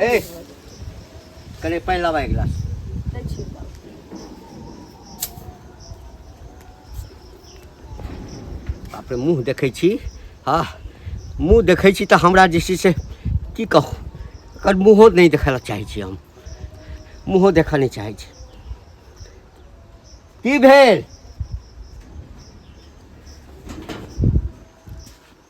ए कने पानि लाबा एक गिलास बाप रे मुँह देखै छी हँ मुँह देखै छी तऽ हमरा जे छै से की कहू एकर मुँहो नहि देखै लए चाहै छी हम मुँहो देखऽ नहि चाहै छी की भेल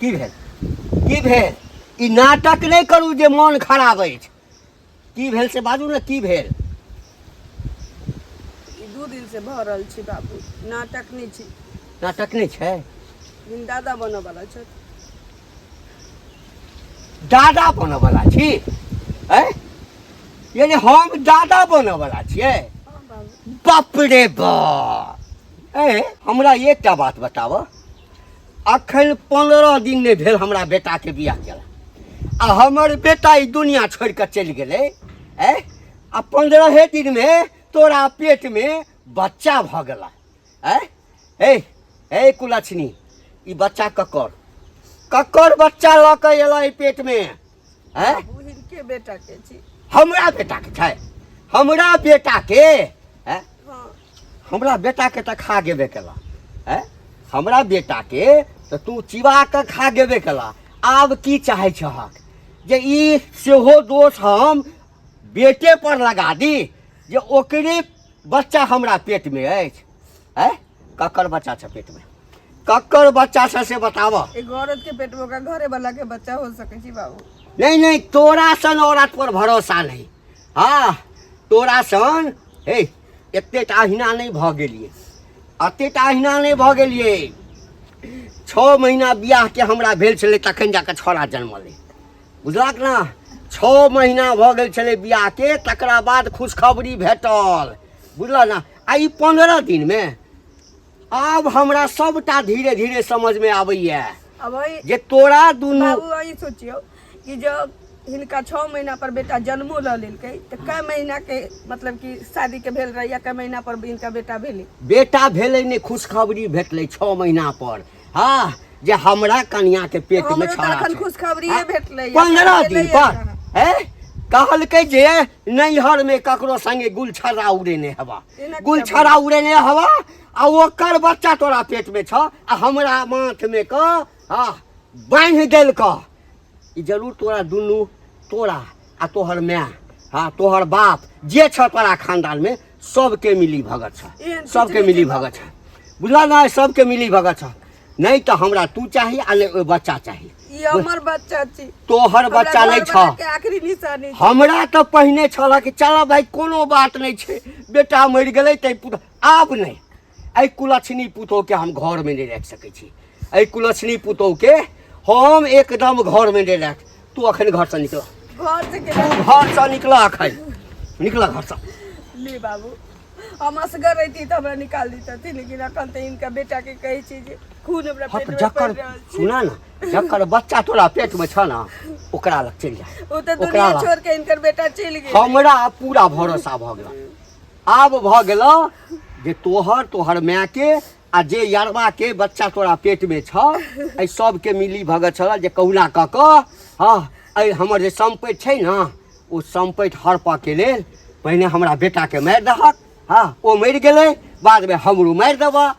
की भेल की भेल ई नाटक नहि करू जे मोन खराब अछि की भेल से बाजू ने की भेल ई दू दिन से भऽ रहल छै बाबू नाटक नहि छै नाटक नहि छै लेकिन दादा बनऽ वाला छथि दादा बनऽ वाला छी ऐ यानी हम दादा बनऽ वाला छियै हँ बाबू बाप रे बाप ए हमरा एकटा बात बताबऽ अखन पंद्रह दिन नहीं भेल हमरा बेटा के बियाह केला आ हमर बेटा ई दुनिया छोड़ के चल गए ए आ पंद्रह दिन में तोरा पेट में बच्चा भ गला ए ए ए कुलक्षणी ई बच्चा ककर ककर बच्चा लऽ के अयलै पेट में हैं बहिन के बेटा के छी हमरा बेटा के छै हमरा बेटा के हैं हाँ हमरा बेटा के तऽ खा गेबे केला हैं हमरा बेटा के तऽ तू चिबा कऽ खा गेबे केला आब की चाहै छहक जे ई सेहो दोष हम बेटे पर लगा दी जे ओकरे बच्चा हमरा पेट में अछि हैं ककर बच्चा छ पेट में ककर बच्चा छ से बताव एगो औरत के पेट में ओकरा घरे वाला के बच्चा हो सके छी बाबू नहीं नहीं तोरा सन औरत पर भरोसा नहीं हाँ तोरा सन हे एते टाहिना नहीं भ गेलिए एते टाहिना नहीं भ गेलिए छओ महीना बियाह के हमरा भेल छलै तखन जाके छौड़ा जन्मलै बुझलक ने छओ महीना भऽ गेल छलै बियाह के तकरा बाद खुशखबरी भेटल बुझलऽ ने आ ई पंद्रह दिन में आब हमरा सबटा धीरे धीरे समझ में आबैया अब वही जे तोरा दुनू बाबू वही सोचियो कि जब हिनका छः महीना पर बेटा जन्मो लऽ लेलकै तऽ कए महीना के मतलब कि शादी के भेल रहैया कए महीना पर हिनका बेटा भेलै बेटा भेलै ने खुशखबरी भेटलै छओ महीना पर हाँ जे हमरा कन्या के पेट में हमरो तऽ छाड़ा एखन छै। खुशखबरिये हाँ, भेटलैए। पंद्रह दिन भेटलैए पर कहाँ? हैं? कहलकै जे नैहर में ककरो संगे गुलछरा उड़ेने हवा एना किया गुलछरा उड़ेने हवा आ ओकर बच्चा तोरा पेट में छ आ हमरा माथ में क आ बांधि देल क ई जरूर तोरा दुनू तोरा आ तोहर माय हाँ तोहर बाप जे छ तोरा खानदान में सबके मिली भगत छ एहन किछु सबके नहि मिली देबा। भगत छ बुझल ना सबके मिली भगत छ नहीं तो हमरा तू चाही आ नहीं ओइ बच्चा चाही ई हमर बच्चा छी तोहर हमरा बच्चा नहीं घर छ बनाके आखिरी निशानी छी। हमरा तऽ पहिने छल कि चल भाय कोनो बात नहि छै बेटा मरि गेलै तै पुत आब नहि एहि कुलक्षणी पुतोहके हम घरमे नहि राखि सकै छी एहि कुलक्षणी पुतोहके हम एकदम घरमे नहि राख तू अखन घरसँ निकल घरसँ निकल अखन निकल घरसँ ले बाबू हम असगर रहती तऽ हमरा निकाल दितथि लेकिन अखन तऽ इनका बेटा के कहै छी जे खून हमरा पेट में जकर सुना ना जकर बच्चा तोरा पेट में छ ना ओकरा लग चल जा ओ तऽ दुनिया छोड़ के इनकर बेटा चल गेल हमरा पूरा भरोसा भ गेल आब भऽ गेलऽ जे तोहर तोहर मायके आ जे यरबाके बच्चा तोरा पेटमे छौ एहि सभके मिली भगत छल जे कहुना कऽ कऽ हँ एहि हमर जे सम्पति छै ने ओ सम्पति हड़पऽके लेल पहिने हमरा बेटाके मारि दहक हँ ओ मरि गेलै बादमे हमरो मारि देबऽ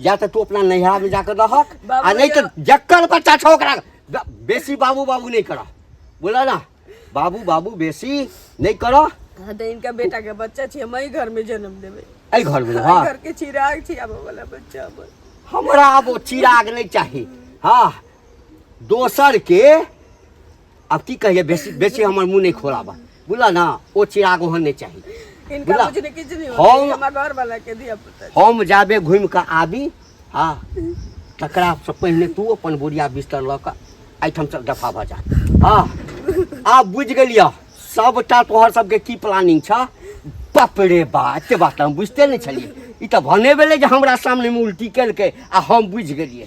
या तऽ तू अपना नैहरा में जाकर रहक बाबू आ नहीं तो भैया। जक्कर बच्चा छो ओकरा ब- बेसी बाबू बाबू नहीं करा बोला ना बाबू बाबू बेसी नहीं करा हाँ तो इनका बेटा के बच्चा छी हम ही घर में जन्म देवे ऐ घर में हाँ घर के चिराग छी आबे वाला बच्चा हमर हमरा अब चिराग नहीं चाहिए हाँ दोसर के आब की कहिए बेसी बेसी हमर मुँह नहि खोलाबा बुझल ने ओ चिराग ओहन नहि चाही इनका बुझला? मुझे किछु नहीं होता हम- ये हमारे घर वाला के दिया पुता है। हम जाबे घुमि कऽ आबी आ तकरासँ पहिने तू अपन बोरिया बिस्तर लऽ कऽ एहिठाम सब दफा भऽ जा हँ आब बुझि गेलियह सभटा तोहर सबके की प्लानिंग छह बाप रे बा एते बात हम बुझते नहि छलियै ई तऽ भने भेलै जे हमरा सामनेमे उल्टी केलकै आ हम बुझि गेलियै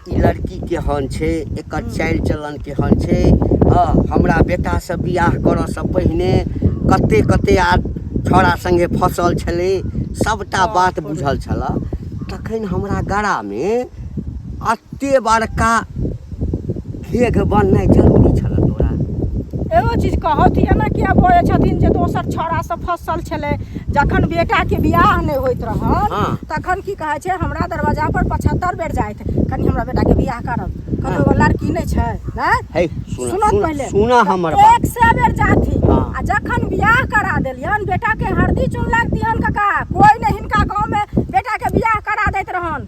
ई लड़की केहन छै एकर चालि चलन केहन छै हँ हमरा बेटासँ बियाह करऽसँ पहिने कते कते आ छौड़ा सङ्गे फँसल छलै सभटा बात बुझल छलऽ तखन हमरा गड़ामे एते बड़का घेघ बननाइ जरूरी छलऽ तोरा एगो चीज कहऽ कि एना किया बजै छथिन जे दोसर छौड़ासँ फँसल छलै जखन बेटा के बियाह नहि होइत रहल हाँ। तखन की कहै छै हमरा दरवाजा पर पचहत्तर बेर जाइत कनि हमरा बेटा के बियाह करब कतौ हाँ। लड़की नहि छै है सुना पहिले सुना हमर एक से बेर जाथि हाँ। आ जखन बियाह करा देलियन बेटा के हरदी चुन लागतियन काका कोई नहीं हिनका गांव में बेटा के बियाह करा दैत रहन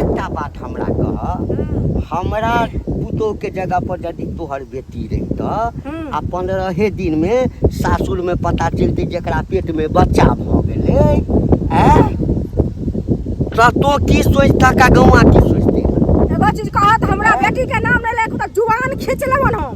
एकटा बात हमरा कह हमरा पुतोह के जगह पर यदि तोहर बेटी रहित आ पंद्रहे दिन में सासुर में पता चलते जरा पेट में बच्चा भ गए तो की सोचता का गौआ की सोचते एगो चीज कहत हमरा बेटी के नाम ले ले तो जुबान खींच लेवन हम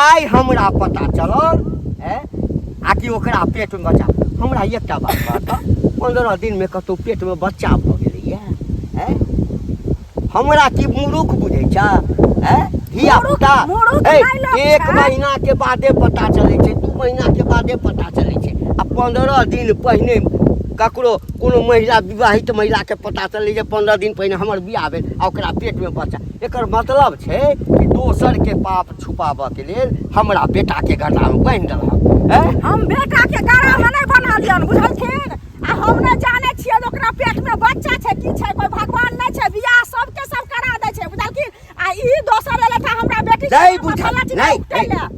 आइ हमरा पता चलल है आ कि ओकरा पेट में बच्चा हमरा एकटा बात बता पंद्रह दिन में कतौ पेट में बच्चा भऽ गेलैया है हमरा की मुरुख बुझै छ है धिया पुता एक महीना के बादे पता चलै छै दू महीना के बादे पता चलै छै आ पंद्रह दिन पहिने ककरो कोनो महिला विवाहित महिलाके पता चलै जे पंद्रह दिन पहिने हमर बियाह भेल आ ओकरा पेटमे बच्चा एकर मतलब छै कि दोसर के पाप छुपाबऽ के लेल हमरा बेटा के गला में बांध देलक हम बेटा के गला में नहीं बना दियन बुझलखिन आ हम नहीं जाने छियै ओकरा पेट में बच्चा छै की छै कोई भगवान नहीं छै बियाह सब के सब करा दे छै बुझलखिन आ ई दोसर एले त हमरा बेटी नहीं बुझल नहीं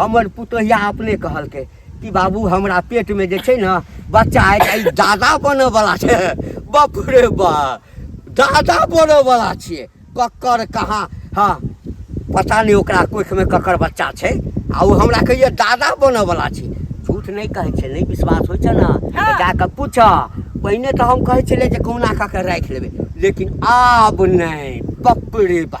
हमर पुतोहिया अपने कहलकै कि बाबू हमरा पेटमे जे छै ने बच्चा आइ दादा बनऽवला छै बाप रे बा दादा बनऽवला छियै ककर कहाँ हँ पता नहि ओकरा कोखिमे ककर बच्चा छै आ ओ हमरा कहिए दादा बनऽवला छी झूठ नहि कहै छै नहि विश्वास होइ छै ने हँ। जा कऽ पूछऽ पहिने तऽ हम कहै छलियै जे कहुना कऽ कऽ राखि लेबै लेकिन आब नहि बाप रे बा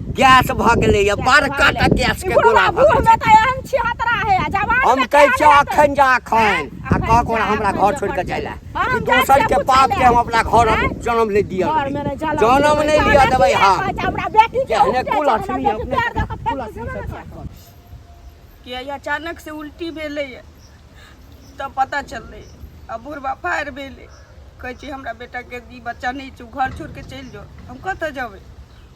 गैस भऽ गेलैए बड़का टा गैसके गोला भऽ गेलै हम कहै छी अखन जा अखन आ कह कोना हमरा घर छोड़ि कऽ जाय लए दोसर के पाप के हम अपना घर जन्म नहि दिअ जन्म नहि लिअ देबै हम जेहने कुल लक्ष्मी अपने कुल लक्ष्मी कि अचानक से उल्टी भेलै तब पता चललै आ बुढ़बा फायर भेलै कहै छी हमरा बेटाके ई बच्चा नहि छै घर छोड़ि कऽ चलि जाउ हम कतऽ जेबै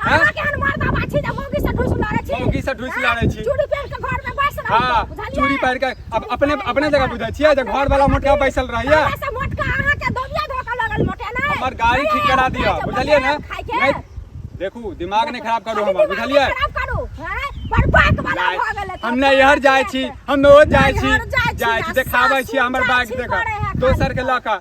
अहाँ केहन मर्द आबा छी जे मौगी से ढूस लड़ै छी मौगी से ढूस लड़ै छी चूड़ी पहिर के घर में बैस रहै हां बुझलियै चूड़ी पहिर के अब अपने अपने जगह बुझै छियै जे घर वाला मोटका बैसल रहैया से मोटका अहाँ के दोबिया धोका लगल मोटे नै हमर गाड़ी ठीक करा दियो बुझलियै ना नै देखू दिमाग नै खराब करू हमर बुझलियै खराब करू हैं बरपाक वाला भ गेलै हम नै इहर जाय छी हम नै ओ जाय छी जाय छी देखाबै छी हमर बैग देखा दोसर के लका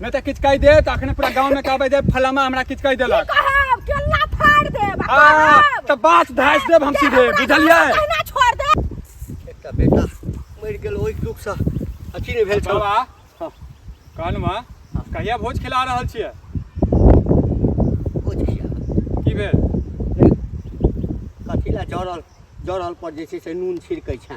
नहि तऽ किछु कहि देत अखने पूरा गाँव में कहबै जे फलामा हमरा किछु कहि देलक कहब केला फाड़ देब आ आ, कहब तऽ बात धासि देब हम सीधे बुझलियै अहिना छोड़ दे एकटा बेटा मरि गेल ओहि दुखसँ अथी नहि भेल छल बाबा हँ। कहनवा कहिया भोज खिला रहल छियै भोज खिया की भेल कथी लए जरल जरल पर जे छै से नून छिड़कै छै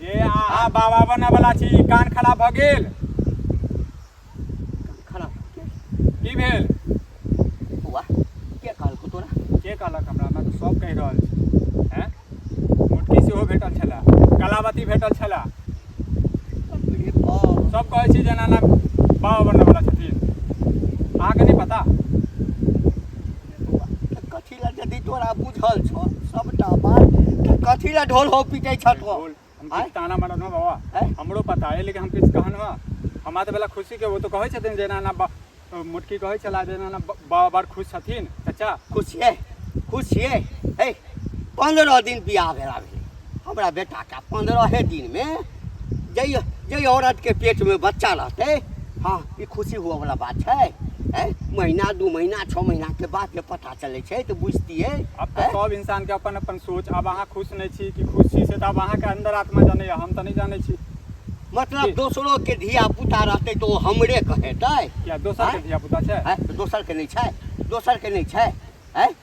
ए अहाँ बाबा बनऽ वाला छी कान खराब भऽ गेल खराब की भेल बौआ के कहलकौ तोरा के कहलक हमरा हमरा तऽ सब कहि रहल छी हैं मुटकी सेहो भेटल छला कलावती भेटल छला रे बाप सब कहै छी जेना ना बाबा बनऽ वाला छथिन अहाँके नहि पता बौआ के कछ यदि तोरा बुझल छौ सबटा बात तऽ कथी लए ढोल हो पीटे छौ तो बोल, हम आँय? किछु ताना मारब ना बाबा आँय? हमरो पता है लेकिन हम किछु कहन ना हमरा तऽ बला खुशी के वो तो कहै छथिन जे एना एना बा- मोटकी कहै छला जे एना एना बा- बाबा बड़ खुश छथिन चाचा खुशिये खुशिये हे पंद्रह दिन बियाह भेला भेलै हमरा बेटाके पन्द्रहे दिनमे जइ जइ औरतके पेटमे बच्चा रहतै हँ ई खुशी हुअवला बात छै ए महीना दू महीना छओ महीनाके बाद जे पता चलै छै तऽ बुझतियै अब तो हैं? सब इंसान के अपन अपन सोच अब अहाँ खुश नहीं छी कि खुश छी से तो अब अहाँ के अंदर आत्मा जाने या हम तो नहीं जाने छी मतलब जी। दोसरोके धिया पुता रहतै तऽ ओ हमरे कहेतै क्या दोसर के आँय? धिया पुता छै हैं? दोसरके नहि छै दोसरके नहि छै हैं?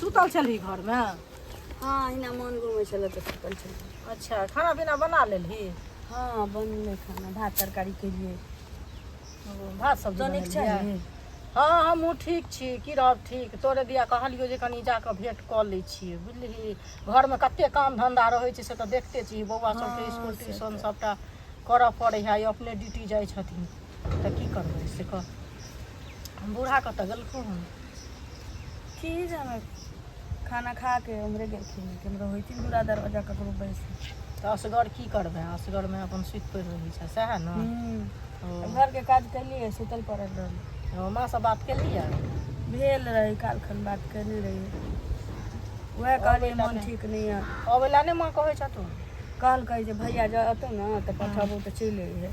सुतल छलही घरमे हँ अहिना मोन घुमै छलै तऽ सुतल छलै अच्छा खाना पीना बना लेलही हँ बनलै खाना भात तरकारी केलियै ओ, भात सब्जी तो नीक बनेलियै? छही हँ हमहूँ ठीक छी की रहब ठीक तोरे दिया कहलियौ जे कनि जाकऽ भेँट कऽ लै छियै बुझलिही घरमे कते काम धंधा रहै छै से तऽ देखते छी बौआ सबके हँ, स्कूल से ट्यूशन सबटा करऽ पड़ै है अपने ड्यूटी जाइ छथिन तऽ की करबै से कह हम बूढ़ा कतऽ गेलखुन हन की जाने खाना खा के उम्हरे गेलखिन केम्हरो होइथिन दूरा दरवाजा ककरो बैस तऽ असगर की करबै असगरमे अपन सुति पड़ि रहै छै सएह ने ओ, घर के काज कैलिए सुतल पड़ल रहल ओ, माँसँ बात केलियै भेल रही काल खन बात कैले रही वएह कहलिए बेटा मन ने। ठीक नहीं है अबै लए नहि माँ कहै छथुन कहलकै जे भैया जतौ ने तऽ पठाबू तऽ चलि अइहे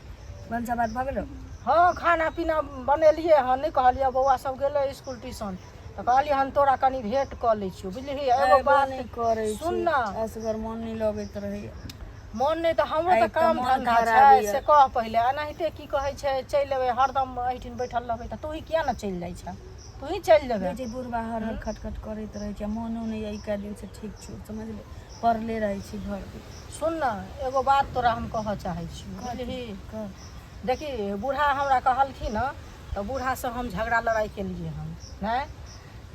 भनसा भात भऽ गेलौ हँ खाना पीना बनेलियै हँ नहि कहलियै बौआ सब गेलै इसकुल ट्यूशन तऽ कहलियै हम तोरा कनि भेट कऽ लै छियौ बुझलिही एगो एबो बात नहि करै सुन छी ने असगर मोन नहि लगैत रहैया मोन नहि तऽ हमरो आइ तऽ तऽ काम मोन धन्धा खराब छै यऽ। से कह पहिले एनाहिते की कहै छै चलि एबै हरदम एहिठिन बैठल रहबै तऽ तूही किया ने चलि जाइ छह तूही चलि जेबै जे बुढ़बा हर हर खटखट करैत रहै छै मोनो नहि अइ कए दिनसँ ठीक छौ समझले पड़ले रहै छी घर सुन ने एगो बात तोरा हम कहऽ चाहै छी बुझलिही देखी बूढ़ा हमरा कहलखिन हँ तऽ बूढ़ासँ हम झगड़ा लड़ाइ केलिए हँ नहि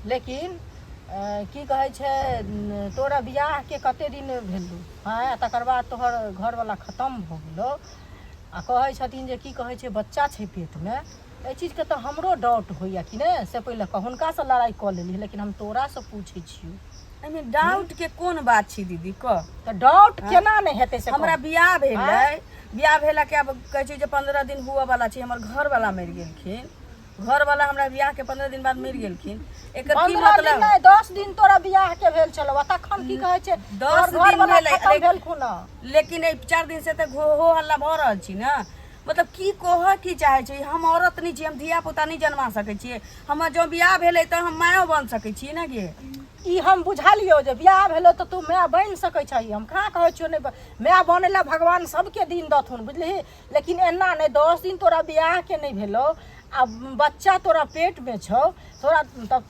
लेकिन की कहै छै तोरा बियाहके कते दिन भेलौ हँ तकर बाद तोहर घरवला खतम भऽ गेलौ आ कहै छथिन जे की कहै छै बच्चा छै पेटमे एहि चीजके तऽ हमरो डाउट होइए कि नहि से पहिले कह हुनकासँ लड़ाइ कऽ लेली लेकिन हम तोरासँ पूछै छियौ एहिमे डाउटके कोन बात छी दीदी कह तऽ डाउट हाँ। केना नहि हेतै से हमरा बियाह भेलै हाँ। बियाह भेला के आब कहै छै जे पंद्रह दिन हुअ बला छै हमर घरवला मरि गेलखिन घर वाला हमरा बियाह के पंद्रह दिन बाद मरि गेलखिन एकर की मतलब नहीं दस दिन तोरा बियाह के भेल छलो आ तखन की कहे छे दस दिन भेलै भेलखुन लेकिन ए चार दिन से त घो हो हल्ला भ रहल छी ना मतलब की कहऽ की चाहै छी हम औरत नहि छी हम धिया पुता नहि जन्मा सकै छियै हमर जँ बियाह भेलै तऽ हम मायो बन सकै छियै ने गे ई हम बुझलियौ जे बियाह भेलो तऽ तू माय बनि सकै छही हम कहाँ कहै छियौ नहि माय बनै लए भगवान सबके दिन दथुन बुझलिही लेकिन एना नहि दस दिन तोरा बियाहके नहि भेलौ आ बच्चा तोरा पेटमे छौ तोरा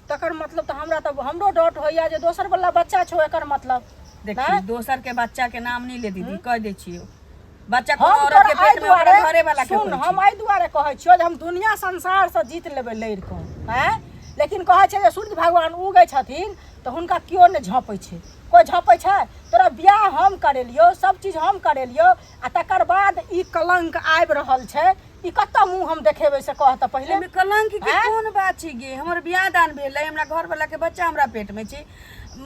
तकर मतलब तऽ हमरा तऽ हमरो डाउट होइए जे दोसर बच्चा छौ एकर मतलब देखी दोसर के बच्चा के नाम नहि ले दीदी कह दै छियौ बच्चा कोनो हम औरत के तोरा एहि पेट में ओकरा दुआरे घरे वाला के सुन होई हम एहि दुआरे कहै छियौ जे हम दुनिया संसार से जीत लेबै लड़ि कऽ हैं लेकिन कहै छै जे सूर्य भगवान उगै छथिन तऽ हुनका केओ नहि झँपै छै कोइ झँपै छै तोरा बियाह हम करेलियौ सब चीज हम करेलियौ आ तकर बाद ई कलंक आबि रहल छै ई कतऽ मुँह हम देखेबै से कह तऽ पहिले एहिमे कलंक के हैं? कोन बात छै गे हमर बियाह दान भेलै हमरा घर वाला के बच्चा हमरा पेट में छै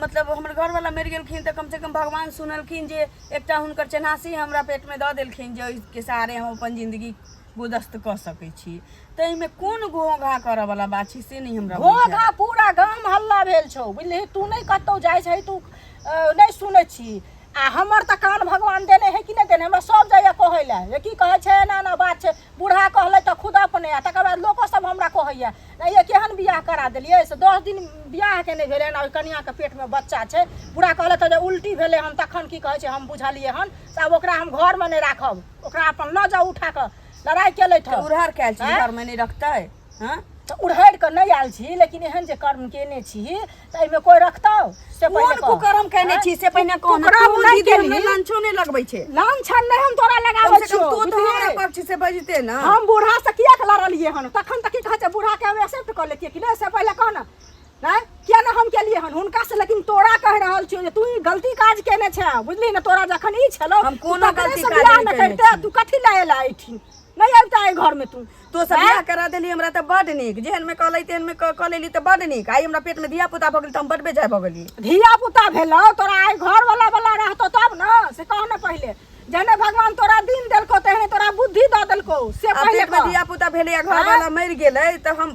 मतलब हमर घर वाला मरि गेलखिन तऽ कम से कम भगवान सुनलखिन जे एकटा हुनकर चेन्हासी हमरा पेटमे दऽ देलखिन जे ओहिके सहारे हम अपन जिन्दगी गुदस्त कऽ सकै छी ताहिमे कोन घोघा करऽ वाला बात छै से नहि हमरा घोघा पूरा गाम हल्ला भेल छौ बुझलिही तू नहि कतौ जाइ छै तू नहि सुनै छी आ हमर तऽ कान भगवान देने है कि नहि देने हमरा सब जाइए कहै लए जे की कहै छै एना एना बात छै बूढ़ा कहलै तऽ खुद अपने आ तकर बाद लोको सब हमरा कहैया नहि ये केहन बियाह करा देलियै से दस दिन बियाह के नहि भेलै हन आओर कनियाके पेटमे बच्चा छै बूढ़ा कहलै तऽ जे उल्टी भेलै हन तखन की कहै छै हम बुझलियै हन से आब ओकरा हम घरमे नहि राखब ओकरा अपन लऽ जाउ उठा कऽ लड़ाइ केलै तऽ उड़हर कयल छी आँय? घर में नहीं रखते हाँ तऽ उड़हरि कऽ नहि आयल छी लेकिन एहन जे कर्म केने छी तऽ एहिमे कोई रखतौ से कोन पहिले कह। कुकरम कहने छी से पहिने कोन कुकरम तू नहि दीदी हमरा केलही। लंचो नहि लगबै छै लान छान नहि हम तोरा कम लगाबै से कम छियौ तू तऽ बुझलियै? हमरा पक्ष से बजते ने हम बूढ़ा से किया के लड़लिए हन तखन तक की कहै छै बूढ़ा के एक्सेप्ट कर लेतिए कि नहीं से पहले कह ना हैं किया ना हम केलिए हन हुनका से लेकिन तोरा कह रहल छियो जे तू ई गलती काज केने छै बुझली ना तोरा जखन ई छलो हम कोनो गलती काज नहि केने छी। तू कथी लाए ला एठी नहीं आता है घर में तू तो सब बियाह करा देली हमरा त बड नीक जेहन में कहलै तेहन में क क लेली त बड नीक आई हमरा पेट में धिया पुता भऽ गेल त हम बड बेजाय भऽ गेली धिया पुता भेलौ तोरा आइ घर वाला वाला रहतो तब न से कह न पहिले जने भगवान तोरा दिन देलको तेहने तोरा बुद्धि दऽ देलको से आ पहिले पेट में कह। धिया पुता भेलै आ घर वाला मरि गेलै त हम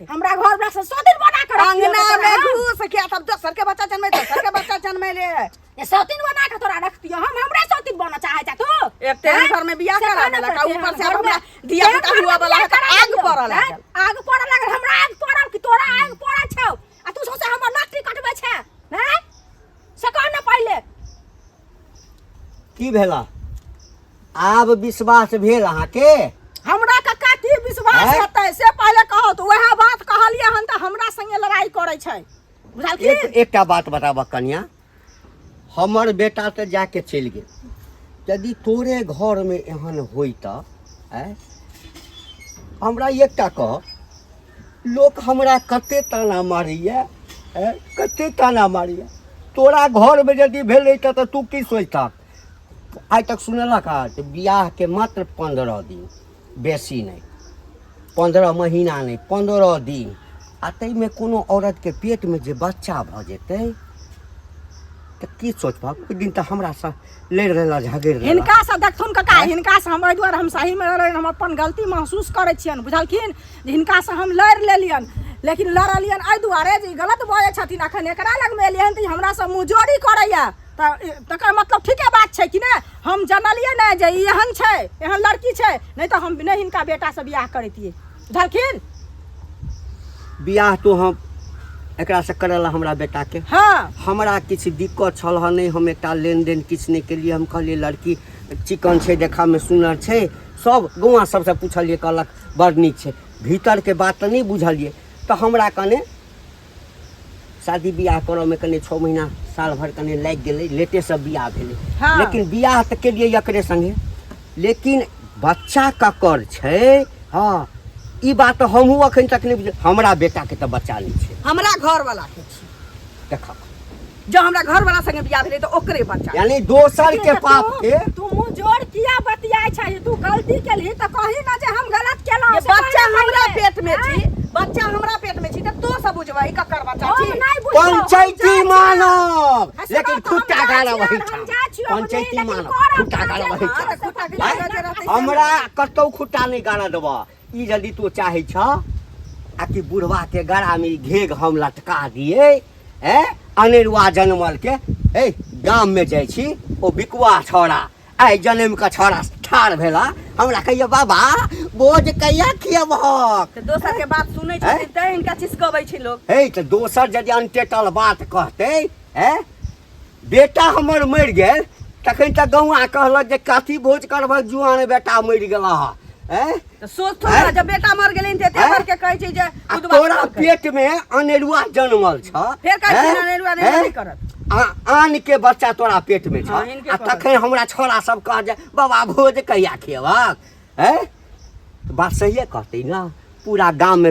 बाटे हमरा घर वाला से सौतिन बना के रखियो अंगना तोरा में हम। घूस के तब दोसर के बच्चा जन्मे दोसर के बच्चा जन्मे ले ये सौतिन बना के तोरा रख दियो हम हमरा सौतिन बना चाहे जा तू एक तेरे घर में बियाह करा देला का ऊपर से हमरा दिया पुता हुआ वाला है त आग पड़ल लागल आग पड़ल लागल हमरा आग पड़ल कि तोरा आग पड़ल छौ आ तू सोचे हमर नौकरी कटबै छै हैं से कह न पहिले की भेला आब विश्वास भेल अहाँके हमरा कक्का की विश्वास आँय? हेतै से पहिले कहौ तऽ वएह बात कहलियै हन तऽ हमरा संगे लड़ाई करै छै बुझल की एक एकटा बात बताबऽ कन्या हमर बेटा तऽ जाके चलि गेल यदि तोरे घरमे एहन होइ तऽ आँय? हमरा एकटा कह लोक हमरा कते ताना मारैए आँय? कते ताना मारैए तोरा घरमे यदि भेलै तऽ तऽ तू की सोचतह आइ तक सुनेलक हँ जे बियाहके मात्र पन्द्रह दिन बेसी नहि पन्द्रह महीना नहि पन्द्रह दिन आ ताहिमे कोनो औरतके पेटमे जे बच्चा भऽ जेतै तऽ की सोचबह ओहि दिन तऽ हमरासँ लड़ि रहला झगड़ि रहला हिनका से देखथुन कका हिनका से हम एहि दुआरे हम सही में रहलियन हम अपन गलती महसूस करै छियन बुझलखिन जे हिनका से हम लड़ि लेलियन लेकिन लड़लियन एहि दुआरे जे ई गलत बजै छथिन अखन एकरा लग में एलियन तऽ ई हमरा से मुँहजोरी करैया तऽ तकर मतलब ठीके बात छै कि नहि हम जनलियै ने जे ई एहन छै एहन लड़की छै नहि तऽ हम नहि हिनका बेटासँ बियाह करैतियै बुझलखिन बियाह तो हम एकरासँ करय लए हमरा बेटाके हँ हमरा किछु दिक्कत छल हँ नहि हम एकटा लेनदेन किछु नहि केलियै हम कहलियै लड़की चिकन छै देखामे सुनर छै सब गौआ सबसँ पूछलियै कहलक बड़ नीक छै भीतरके बात तऽ नहि बुझलियै तऽ हमरा कने शादी बियाह करऽ में कने छः महीना साल भर कने लागि गेलै लेटे से बियाह भेलै हाँ। लेकिन बियाह तऽ केलियै एकरे संगे लेकिन बच्चा ककर छै हँ ई बात तऽ हमहूँ अखन तक नहि बुझल हमरा बेटाके तऽ बच्चा नहि छै हमरा घर वाला के छी देखक जब हमरा घर वाला संगे बियाह भेले तो ओकरे बच्चा यानी दोसर के पाप के तू मुंह जोड़ किया बतियाय छै तू गलती केलही त कहि ना जे हम गलत केलौ ये बच्चा हमरा पेट में छी बच्चा हमरा पेट में छी त तो सब बुझबै ककर बच्चा छी पंचायती मानव लेकिन खुट्टा गाला वही छ पंचायती मानव खुट्टा गाला वही छ हमरा कतौ खुट्टा नै गाला देबा ई यदि तू चाहे छ आ कि बुढ़वा के गड़ा में घेग हम लटका दिए ए अनेरुआ जनमल के ए गाम में जाय छी ओ बिकुआ छोड़ा आइ जनम के छोड़ा ठाढ़ भेला हमरा कहियो बाबा बोझ कहिया खियबहक तऽ दोसर के बात सुनै आँय? छथिन तैं हिनका चिसकबै छै लोक हे तऽ दोसर यदि अनटेटल बात कहतै ए बेटा हमर मरि गेल तखन तऽ गौआ कहलक जे कथी भोज करबह जुआन बेटा मरि गेला हँ हैं? तऽ सोच थोड़ा हैं? जब बेटा मर गेलै तऽ एते हैं? करके कहै छै जे आ उदबा तोरा करलकै। पेट मे अनेरुआ जनमल छ फेर कहै छै हैं? अनेरुआ अनेरुआ हैं? नहि करत। आ- आन के बच्चा तोरा पेट मे छ हाँ, इनके आ करत। तखन हमरा छोरा सब कह जे बाबा भोज कहिया खेबक हैं बात सहिए कहतै ने पूरा गाम मे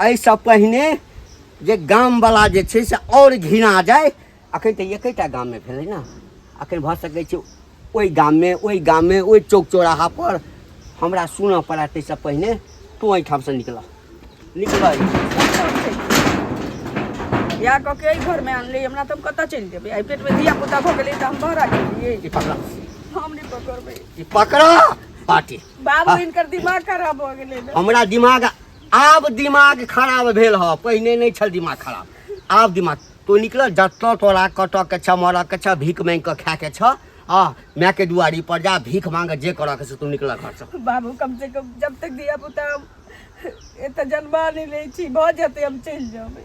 एहिसँ पहिने जे गामवला जे छै से आओर घिना जाय अखन तऽ एकेटा गाममे भेलै ने अखन भऽ सकै छै ओहि गाममे ओहि गाममे ओहि चौक चौराहा पर हमरा सुनऽ पड़ै ताहिसँ पहिने तू एहिठामसँ निकलऽ निकलऽ बियाह कऽ के एहि घरमे आनली हमरा तऽ हम कतऽ चलि जेबै एहि पेटमे धिया पुता भऽ गेलै तऽ हम बहरा गेलियै ई पकड़ हम नहि पकड़बै ई पकड़ बाटी बाबू इनकर दिमाग खराब भऽ गेलै ने हमरा दिमाग आब दिमाग खराब भेल ह पहिने नहीं छल दिमाग खराब आब दिमाग तो निकल जत तोरा कट के छ मर के छ भीख मांग के खा के छ आ माय के दुआरी पर जा भीख मांग जे कर के तू निकल घर से बाबू कम से कम जब तक दिया पुता एत जन्मा नहीं ले छी भ जते हम चल जाबे